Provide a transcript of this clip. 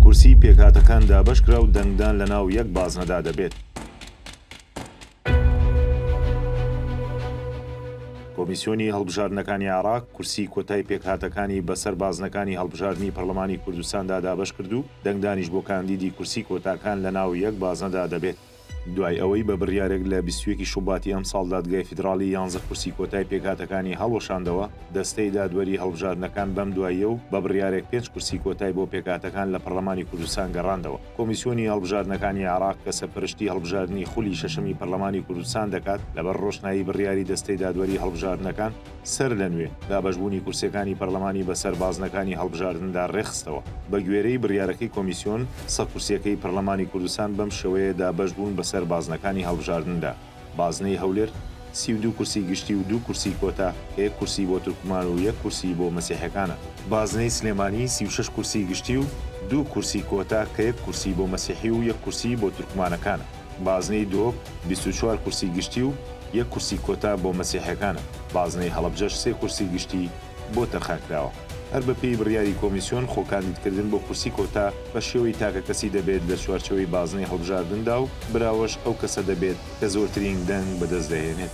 کورسی پێکهاتەکان دابەشکرا و دەنگدان لەناو یەک بازنەدا دەبێت. کۆمیسیۆنی هەڵبژاردنەکانی عێراق کورسی کۆتای پێکهاتەکانی بەسەر بازنەکانی هەڵبژاردنی پەرلەمانی کوردستاندا دابەشکرد و دەنگدانیش بۆ کاندیدی کورسی کۆتاکان لەناو یەک بازنەدا دەبێت. دوای ئەوەی بە بڕیارێک لە بیست و یەک ی شوباتی ئەمساڵ دادگای فیدراڵی یانزە کورسی کۆتای پێکهاتەکانی هەڵوەشاندەوە، دەستەی دادوەری هەڵبژاردنەکان بەم دواییە و بە بڕیارێک پێنج کورسی کۆتای بۆ پێکهاتەکان لە پەڕلەمانی کوردستان گەڕاندەوە. کۆمیسیۆنی هەڵبژاردنەکانی عێراق کە سەرپەرشتی هەڵبژاردنی خولی شەشەمی پەرلەمانی کوردستان دەکات، لەبەر ڕۆشنایی بڕیاری دەستەی دادوەری هەڵبژاردنەکان، سەرلەنوێ دابەشبوونی کورسیەکانی پەرلەمانی بەسەر بازنەکانی هەڵبژاردندا ڕێکخستەوە. بەگوێرەی بڕیارەکەی کۆمیسیۆن، سە کورسیەکەی پەرلەمانی کوردستان بەم شێوەیە دابەشبوون بەسەر بازنەکانی هەڵبژاردندا، بازنەی هەولێر، سی و دوو کورسی گشتی و دوو کورسی کۆتا، کە یەک کورسی بۆ تورکمان و یەک کورسی بۆ مەسیحەکانە. بازنەی سلێمانی، سی و شەش کورسی گشتی و دوو کورسی کۆتا، کە یەک کورسی بۆ مەسیحی و یەک کورسی بۆ تورکمانەکانە. بازنەی دۆ بیست و چوار کورسی گشتی و یەک کورسی کۆتا بۆ مەسیحیەکانە، بازنەی هەڵەبجەش سێ کورسی گشتی بۆ تەرخانکراوە. هەر بەپێی بڕیاری کۆمیسیۆن خۆ کاندیدکردن بۆ کورسی کۆتا بە شێوەی تاکەکەسی دەبێت لە چوارچێوەی بازنەی هەڵبژاردندا و براوەش ئەو کەسە دەبێت کە زۆرترین دەنگ بەدەستدەهێنێت.